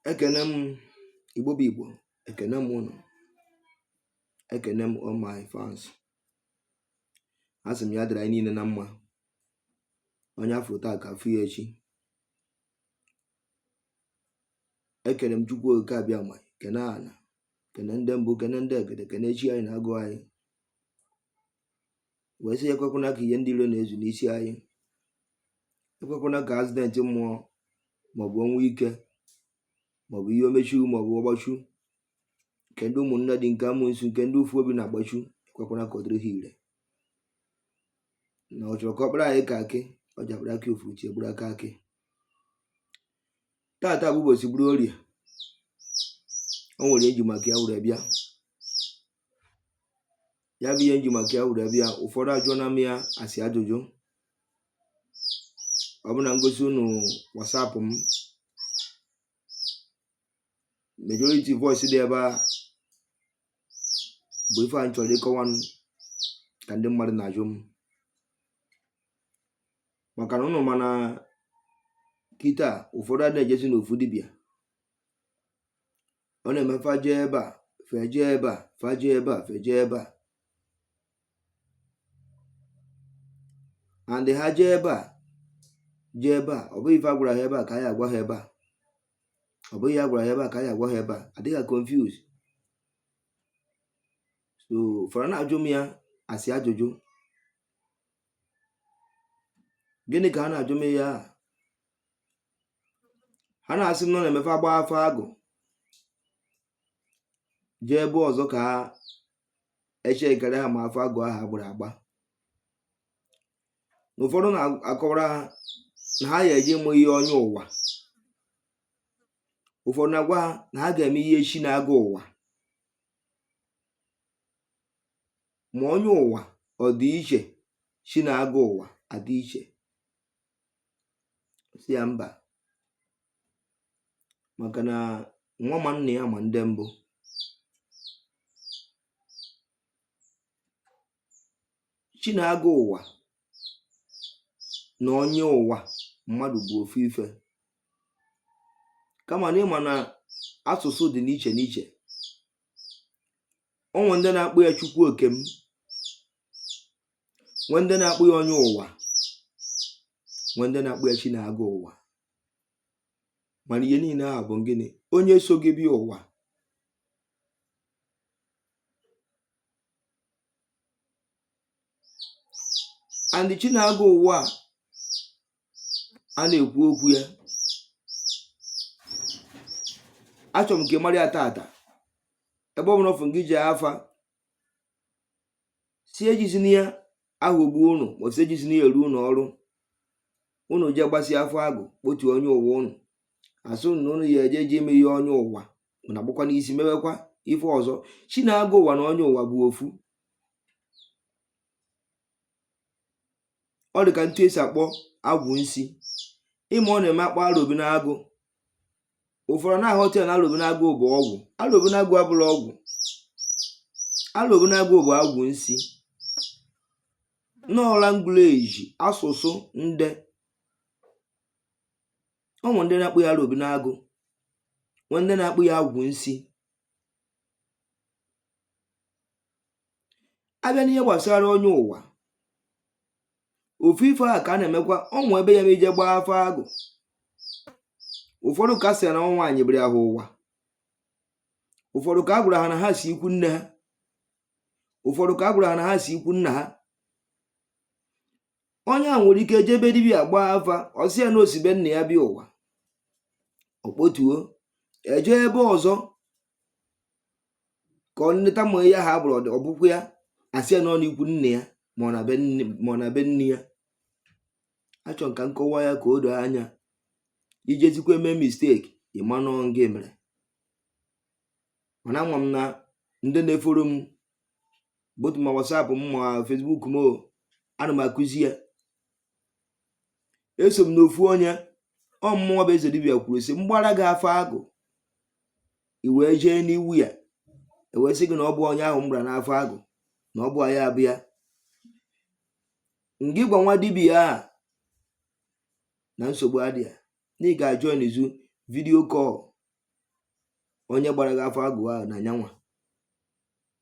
ekene m igbo bụ igbo ekene m ụnụ ekene m all my fans asị m ya dịrị anyị niile na mma onye afụ taa ka afụ ya echi ekene m chukwu oke abịama kene ana kene ndị mbụ kene ndị egede kene chi anyị na agwụ anyị wee sị ekwekwana ka ihe ndị iro na-ezu n'isi anyị ekwekwana ka accident mmụọ maọbụ ọnwụ ike maọbụ ihe omechu maọbụ ọgbachu nke ndị ụmụnne dị nke amụnsu nke ndị ụfụ obi na-agbachu ekwekwana ka ọ dịrị ha ire na ọ chọrọ ka ọ kpara anyị ka akị ọ ji akpara akị ofuru chi egburu aka akị tata bụ ụbọchị bụrụ orie o nwere ihe nji maka ya were bịa ya bụ ihe nji maka ya were bịa ụfọdụ ajụọna m ya as ajụjụ ọ bụ na ngosi unu whatsapp m majority voice dị ebe a bụ ife a nchọrọ ịkọwa nka ndị mmadụ na-ajụ m maka na ụnụ ma na kịta ụfọdụ adịghị ejezi n'ofu dibịa ọ na-eme fa jee ebe a fa eje ebe a fa jee ebe a fa eje ebe a and ha jee ebe a jee ebe a ọ bụghị ife a gwara ha ebe a ka a ya-agwa ha ebe a ọ bụghị ihe a gwara ha ebe a ka a ya-agwa ha ebe a adịka confuse so ụfọdụ na-ajụ m ya as ajụjụ gịnị ka ha na-ajụ m ya ha na-asị na ọ na-eme fa gbaa afa agwụ jee ebe ọzọ ka e checkere ha ma afa agwụ ahụ agbara agba ụfọdụ na-akọwara ha na ha ga-eje ime ihe onye ụwa ụfọdụ na-agwa ha na ha ga-eme ihe chi na-aga ụwa ma onye ụwa ọ dị iche chi na-aga ụwa adị iche sị ya mba maka na nwa ma nna ya ama ndị mbụ chi na-aga ụwa na onye ụwa mmadụ bụ ofu ife kama na ị ma na asụsụ dị n'iche n'iche o nwe ndị na-akpọ ya chukwu oke m nwee ndị na-akpọ ya onye ụwa nwee ndị na-akpọ ya chi na-aga ụwa mana ihe niile ahụ bụ gịnị onye so gị bịa ụwa and chi na-aga ụwa a na-ekwu okwu ya achọrọ m ka ị mara ya tata ebe ọ bụla ọfụ gị ji afa si ejizina ya aghọgbu ụnụ ma si ejizina ya eru ụnụ ọrụ ụnụ jee gbasịa afa agụ kpotu onye ụwa ụnụ a sị na ụnụ ya eje je ime ihe onye ụwa na agbakwa n'isi mewekwa ife ọzọ chi na-agụ ụwa na onye ụwa bụ ofu ọ dị ka etu e si akpọ agwụ nsi ị ma ọ na-eme akpọ arobinagụ ụfọdụ na-aghọta ya na alobinagụ bụ ọgwụ alobinagụ abụrọ ọgwụ alobinagụ bụ agwụ nsi na ọ language asụsụ ndị o nwe ndị na-akpọ ya alobinagụ nwe ndị na-akpọ ya agwụ nsi A bịa n'ihe gbasara onye ụwa ofu ife a ka a na-emekwa o nwe ebe ya ma i je gbaa afa agụ ụfọdụ ka a sị na ọ nwaanyị bịara ha ụwa ụfọdụ ka a gwara ha na ha si ikwu nne ha ụfọdụ ka a gwara ha na ha si ikwu nna ha onye a nwere ike jebe dibia gbaa afa ọ sị ya na o si be nna ya bịa ụwa o kpotuo eje ebe ọzọ ka ọ nleta ma ya ha bụrụ ọ bụkwa ya a sị ya na ọ n'ikwu nne ya ma ọ na be nne ya achọ m ka m kọwaa ya ka o doo anya i jezikwa eme mistake ị ma na ọ gị mere mana ama m na ndị na-efollow m both ma WhatsApp m ma Facebook m ana m akụzi ya assuming ofu onye ọ mụnwa bụ eze dibia kwuru sị m gbara gị afa agụ i wee jee n'iwu ya e wee sị gị na ọ bụ onye ahụ m gbara n'afa agụ na ọ bụ ya abịa ngị gwa nwa dibia a na nsogbu adị ya na ị ga-ajoin Zoom video call onye gbara gị afa agụ ahụ na nyanwa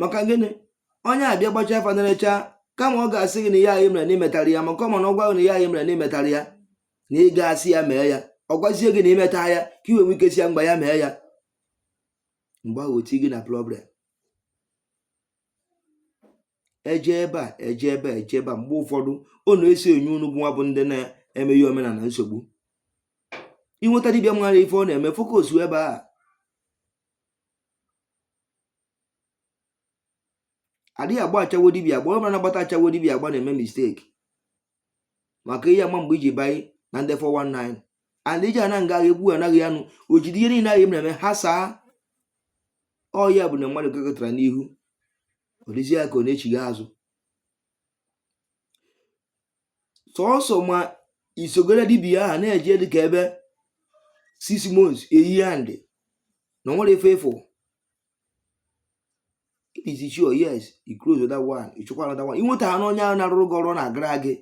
maka gịnị onye abịa gbacha afa na-erecha kama ọ ga-asị gị na ihe anyị mere na imetara ya maka ọ ma na ọ gwa gị na ihe anyị mere na imetara ya na ị ga-asị ya mee ya ọ gwazie gị na imeta ya ka i wee nwee ike sị ya mgbe ya mee ya mgbe ahụ o tii gị na problem eje ebe a eje ebe a eje ebe a mgbe ụfọdụ ọ na-esi enye unu bụ nwa bụ ndị na-emeghị omenala nsogbu i nweta dibịa mara ife ọ na-eme focus ebe a adịghị agba achawo dibia agba ọbụla na-agbata achawo dibia agba na-eme mistake maka ị ya ama mgbe iji banye na ndị 419 and iji ana nga ekwu anaghị anụ o jide ihe niile ahụ na-eme ha saa ọ ya bụ na mmadụ gakatara n'ihu ọ dịzi ya ka ọ na-echigha azụ sọsọ ma i sogoro dibia ahụ na-eje dịka ebe six months a year and na ọ nwere ife ị fụ it is sure yes i close that one ị chọkwa another one inweta ha n'onye ahụ na-arụrụ gị ọrụ ọ na-agara gị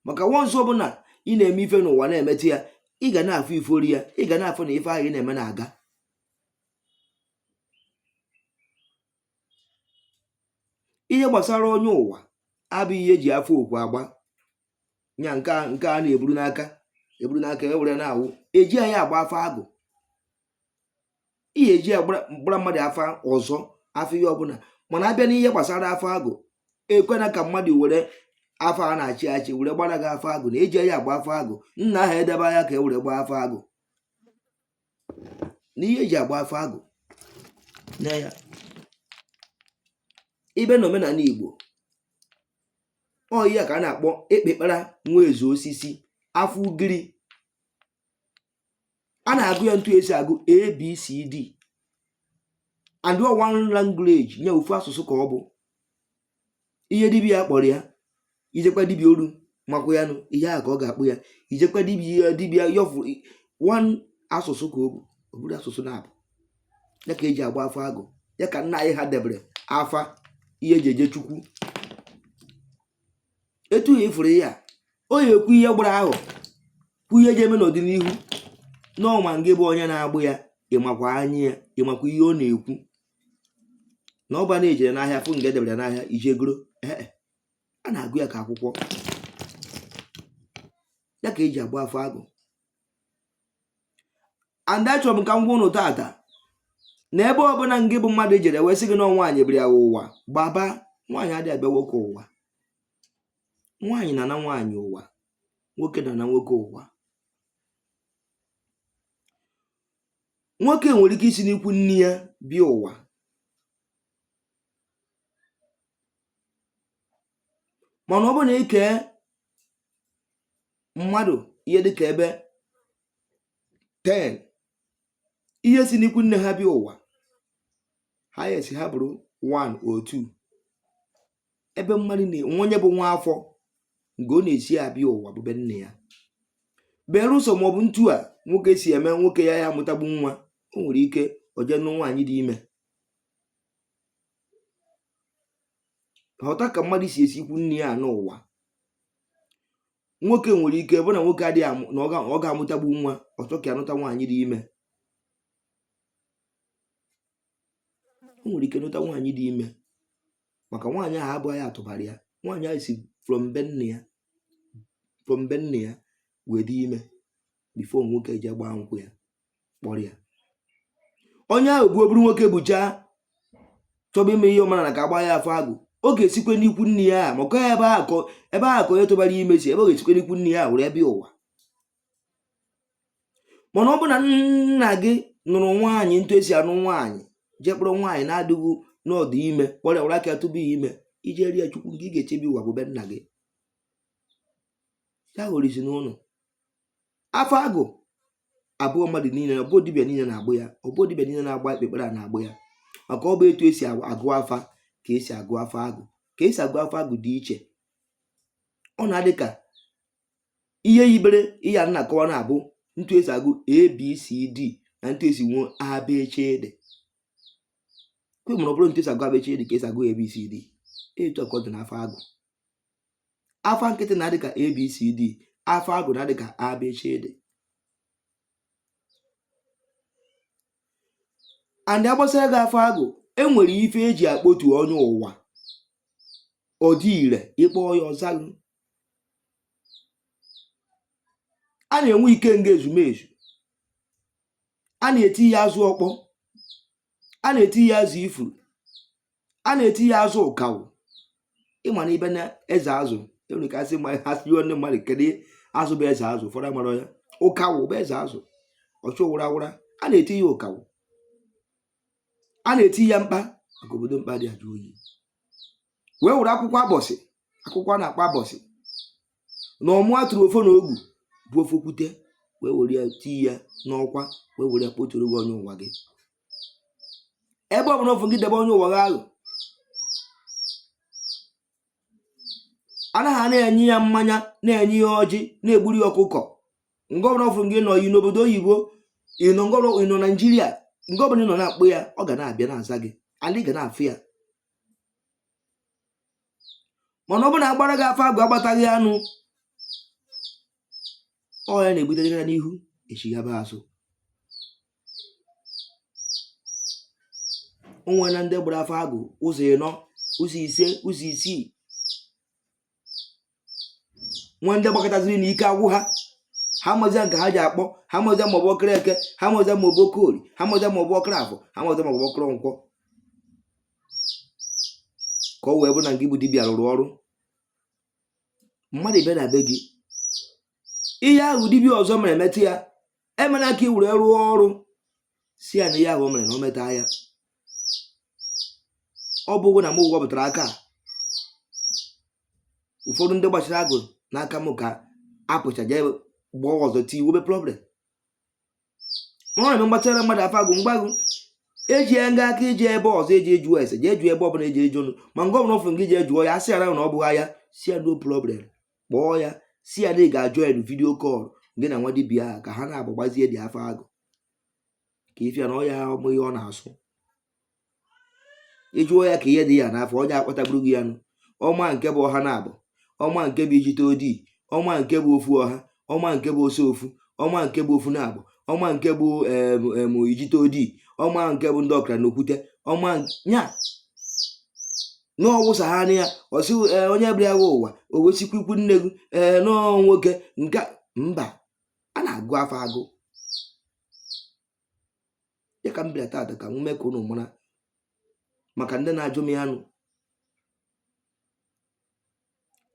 maka once ọ bụ na ị na-eme ife n'ụwa na-emete ya ị ga na-afụ ifori ya ị ga na-afụ na ife ahụ ị na-eme na-aga ihe gbasara onye ụwa abụghị ihe eji afa okwu agba nya nke a na-eburu n'aka eburu n'aka e were na-awụ ejighị ya agba afa agụ ị ya eji ya gbara mmadụ afa ọzọ afa ihe ọbụla mana abịa n'ihe gbasara afa agụ ekwena ka mmadụ were afa a na-achị achị were gbara gị afa agụ na ejighị ya agba afa agụ nna anyị edebeghị ya ka e were gbaa afa agụ na ihe eji agba afa agụ na ya ibe na omenala igbo ọ ya ka a na-akpọ ekpekpara nwa ezu osisi afa ugiri a na-agụ ya ntu esi agụ abcd and one language nya ofu asụsụ ka ọ bụ ihe dibịa kpọrọ ya ijekwa dibịa oru makwa ya nụ ihe ahụ ka ọ ga-akpọ ya ijekwa dibịa dibịa yọfụ one asụsụ ka ọ bụ ọ bụrọ asụsụ naabọ ya ka eji agba afa agụ ya ka nna anyị ha debere afa ihe eji eje chukwu etu ya ifuru ya o ya ekwu ihe gbara ahụ kwu ihe eje eme n'ọdịnihu n'ọnwa ngị bụ onye na-agba ya ịmakwa anya ya ịmakwa ihe ọ na-ekwu na ọ bụ na ijere n'ahịa fụ nga edebere n'ahịa ije goro ee a na-agụ ya ka akwụkwọ ya ka eji agba afa agụ and achọrọ m ka m gwa ụnụ tata na ebe ọbụla ngị bụ mmadụ jere wee sị gị na nwaanyị bịara ya ụwa gbaba nwaanyị adịghị abịa nwoke ụwa nwaanyị na-anọ nwaanyị ụwa nwoke na-anọ nwoke ụwa nwoke nwere ike isi n'ikwu nne ya bịa ụwa mana ọ bụrụ na i kee mmadụ ihe dịka ebe 10 ihe si n'ikwu nne ha bịa ụwa ha esi ha bụrụ 1 or 2 ebe mmadụ na-enwe onye bụ nwa afọ nga ọ na-esi abịa ụwa bụ be nne ya berụsọ maọbụ ntu a nwoke si eme nwoke ya ya amụtagbu nwa o nwere ike o je nụ nwaanyị dị ime ghọta ka mmadụ si esi ikwu nne ya anọ ụwa nwoke nwere ike bụ na nwoke adịghị amụ na ọ ga-amụtagbu nwa ọ chọ ka a nụta nwaanyị dị ime o nwere ike nụta nwaanyị dị ime maka nwaanyị ahụ abụghị ya tụbara ya nwaanyị ahụ si from be nne ya wee dị ime bifo nwoke je gbaa nkwụ ya kpọrọ ya onye ahụ bụ ọ bụrụ nwoke buchaa chọba ime ihe ọ mara na ka a gba ya afa agụ ọ ga-esikwe n'ikwu nne ya a maka ebe ahụ ka onye tụbara ime si ebe ọ ga-esikwe n'ikwu nne ya a were bịa ụwa mana ọ bụ na nna gị nụrụ nwaanyị ntu esi anụ nwaanyị je kpọrọ nwaanyị na-adịghị n'ọdụ ime kpọrọ ya were aka ya tụba ya ime ije rie chukwu nga ị ga-esi bịa ụwa bụ be nna gị ya ghọrọ isi n'ụnụ afa agụ abụghị mmadụ niile na ọbụ dibịa niile na-agba ya ọbụ dibịa niile na-agba ekpekpere a na-agba ya maka ọ bụ etu esi agụ afa ka esi agụ afa agụ ka esi agụ afa agụ dị iche ọ na-adị ka ihe yibere ihe a na-akọwa na-abụ ntu esi agụ abcd na ntu esi agụ abechede kwe mụrụ ọ bụrụ ntu esi agụ abechede ka esi agụ abcd etu a ka ọ dị n'afa agụ afa nkịtị na-adị ka abcd afa agụ na-adị ka abechede and a gbasịa gị afa agụ enwere ife eji akpọtu onye ụwa ọ dị ire ị kpọ ya ọ zalụ a na-enwe ikenga ezumezu a na-eti ya azụ ọkpọ a na-eti ya azụ ifuru a na-eti ya azụ ụkawụ ịma na ibe na eze azụ enwere ike asị ndị mmadụ kedu azụ bụ eze azụ ụfọdụ amara ya ụkawụ bụ eze azụ ọchụ wụra wụra a na-eti ya ụkawụ a na-eti ya mkpa maka obodo mkpa dị ajụ oyi wee were akwụkwọ abọsị akwụkwọ a na-akpọ abọsị na ọmụ atụrụ ọfọ na ogu bụ ọfọ okwute wee were ya tii ya n'ọkwa wee were ya kpọturu gị onye ụwa gị ebe ọ bụla ofu gị debe onye ụwa gị ahụ anaghị na-enye ya mmanya na-enye ya ọjị na-egburu ya ọkụkọ nga ọbụla ofu gị nọ ị nọ obodo oyibo ị nọ ị nọ naijiria nga ọbụla ị nọ na-akpọ ya ọ ga na-abịa na-aza gị ala ị ga na-afụ ya mana ọ bụrụ na a gbara gị afa agụ a gbata gị anụ ọ ya na-ebutere ya n'ihu echighaba azụ o nwere na ndị gbara afa agụ ụzọ ịnọ ụzọ ise ụzọ isii nwee ndị gbakataziri na ike agwụ ha ha amazia nke ha ji akpọ ha amazia ma ọ bụ ọkara eke ha amazia ma ọ bụ ọkara ori ha amazia ma ọ bụ ọkara afọ ha amazia ma ọ bụ ọkara nkwọ ka ọ wee bụ na ị bụ dibịa rụrụ ọrụ mmadụ ịbịa na be gị ihe ahụ dibịa ọzọ mere meta ya emena ka i were rụọ ọrụ sị ya na ihe ahụ o mere na o meta ya ọ bụghị na m wepụtara aka a, ụfọdụ ndị gbachara agụ n'aka m ka apụcha jee gbaa ọzọ tii nwebe problem ọ na-eme m gbachara mmadụ afa agụ mgbagụ eji ya nga aka iji ebe ọzọ eji ajụ ese jee jụọ ebe ọbụla eji ajụ nụ ma nke ọbụla ọfụrụ gị jee jụọ ya a sị ya na ọ bụghị ya sị ya no problem kpọọ ya sị ya na ị ga-ajoin video call gị na nwa dibia ahụ ka ha naabọ gbazie gị afa agụ ka ị fụ ya na ọya ọmụ ihe ọ na-asụ ị jụọ ya ka ihe dị ya n'afọ onye akpọtaburu gị ya nụ ọ ma nke bụ ọha naabọ ọ ma nke bụ ijite odii ọ ma nke bụ ofu ọha ọ ma nke bụ ose ofu ọ ma nke bụ ofu naabọ ọ ma nke bụ em ijite odii ọ ma nke bụ ndị ọkara na okwute ọ ma ya n'ọwụsa ha anya ọ sị onye bịara gị ụwa o wesikwa ikwu nne gị ee nọọ nwoke nke mba a na-agụ afa agụ ya ka m bịara taata ka m mee ka unu mara maka ndị na-ajụ m ya nụ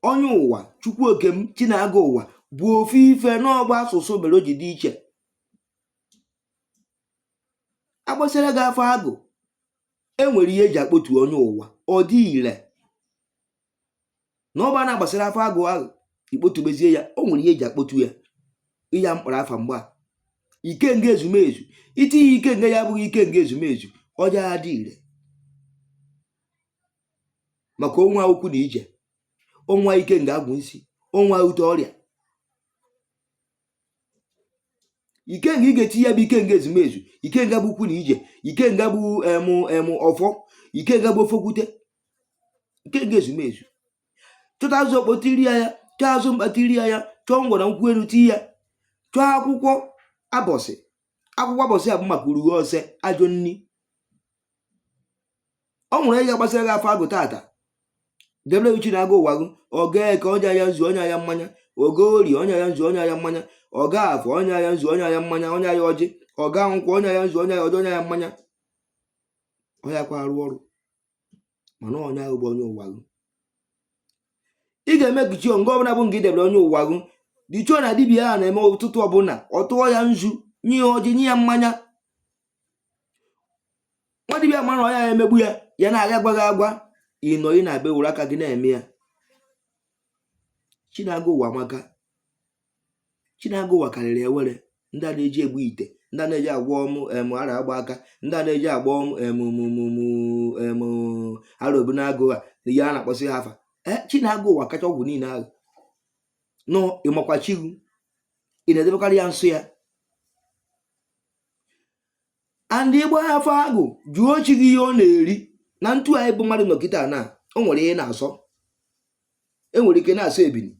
onye ụwa chukwu oke m chi na-aga ụwa bụ ofu ife na ọ bụ asụsụ mere o ji dị iche a gbasịra gị afa agụ enwere ihe eji akpọtu onye ụwa ọ dị ire na ọ bụ a na-agbasịra afa agụ ahụ ị kpọtubezie ya o nwere ihe eji akpọtu ya iji mkpụrụ afa mgba ikenga ezumezu i tinye ikenga ya abụghị ikenga ezumezu ọ jaghị adị ire maka o nwere ukwu na ije o nwere ikenga agwụ nsi o nwere ute ọrịa ikenga ị ga-eti ya bụ ikenga ezumezu ikenga bụ ukwu na ije ikenga bụ em em ọfọ ikenga bụ ọfọ okwute ikenga ezumezu chọta azụ okpo tiri ya ya chọọ azụ mkpa tiri ya ya chọọ ngwọrọ nkwụ elu tii ya chọọ akwụkwọ abọsị akwụkwọ abọsị a bụ maka urughe ose ajọ nni o nwere ị ga-agbasị ya afa agụ tata debere chi na agụ ụwa gị ọ gaa eke o nye ya nzu o nye ya mmanya ọ gaa ori o nye ya nzu o nye ya mmanya ọ gaa afọ o nye ya nzu o nye ya mmanya o nye ya ọjị ọ gaa nkwọ o nye ya nzu o nye ya ọjị o nye ya mmanya ọ yakwa arụ ọrụ mana onye ahụ bụ onye ụwa gị ị ga-emake sure nga ọbụla bụ nga ị debere onye ụwa gị dị sure na dibia a na-eme ụtụtụ ọbụla ọ tụọ ya nzu nye ya ọjị nye ya mmanya nwa dibia mara na ọ ya emegbu ya ya na-aga agwa gị agwa ịnọ ị na-abịa were aka gị na-eme ya chi na agwụ ụwa maka chi na agwụ ụwa karịrị awele ndị a na-eji ebu ite ndị a na-eji agwọ ụm em aro agba aka ndị a na-eji agwọ ụm em arobinagụ ha na ihe a na-akpọsị ha afa e, chi na agwụ ụwa kacha ọgwụ niile ahụ nọ ị makwa chi gị ị na-edebekarị ya nso ya and ị gbaa afa agwụ jụọ chi gị ihe ọ na-eri na etu anyị bụ mmadụ nọkịta na o nwere ihe na-asọ enwere ike na-asọ ebini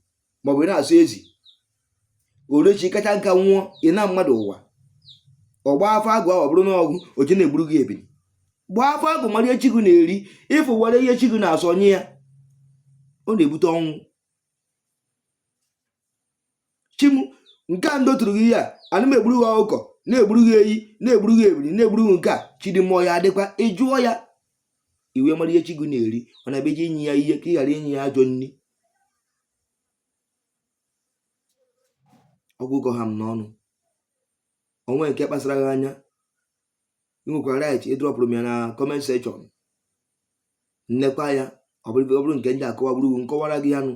maọbụ na-asọ ezi orechi kacha nka nwụọ ị na mmadụ ụwa ọ gbaa afa agwụ ahụ ọ bụrụ na ọgụ oche na-egburu gị ebini gbaa afa agwụ mara ihe chi gị na-eri ịfụ were ihe chi gị na-asọ nye ya ọ na-ebute ọnwụ chi m nke a m dotụrụ gị ihe a ana m egburu gị ọkụkọ na-egburu gị eyi na-egburu gị ebiri na-egburu gị nke a chi dị mmụọ ya adị mkpa ị jụọ ya i wee mara ihe chi gị na-eri ọ na-abụ ị je inye ya ihe ka ị ghara inye ya ajọ nri ọ gwụgo ha m n'ọnụ o nwee nke kpasara gị anya ị nwekwara right ịdrọpụrụ m ya na comment section m lekwaa ya ọ bụrụ nke m ga-akọwa bụrụ m kọwara gị ya nụ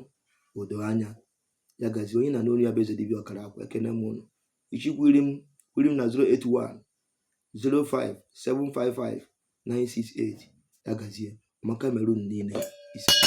o doo anya ya gazie onye ị na-anụ olu ya bụ eze dibịa ọkara akwa ekene m ụnụ ị chọọ ịcall m call m na 081 05 755 968 ya gazie ọma ka emere ụnụ niile isee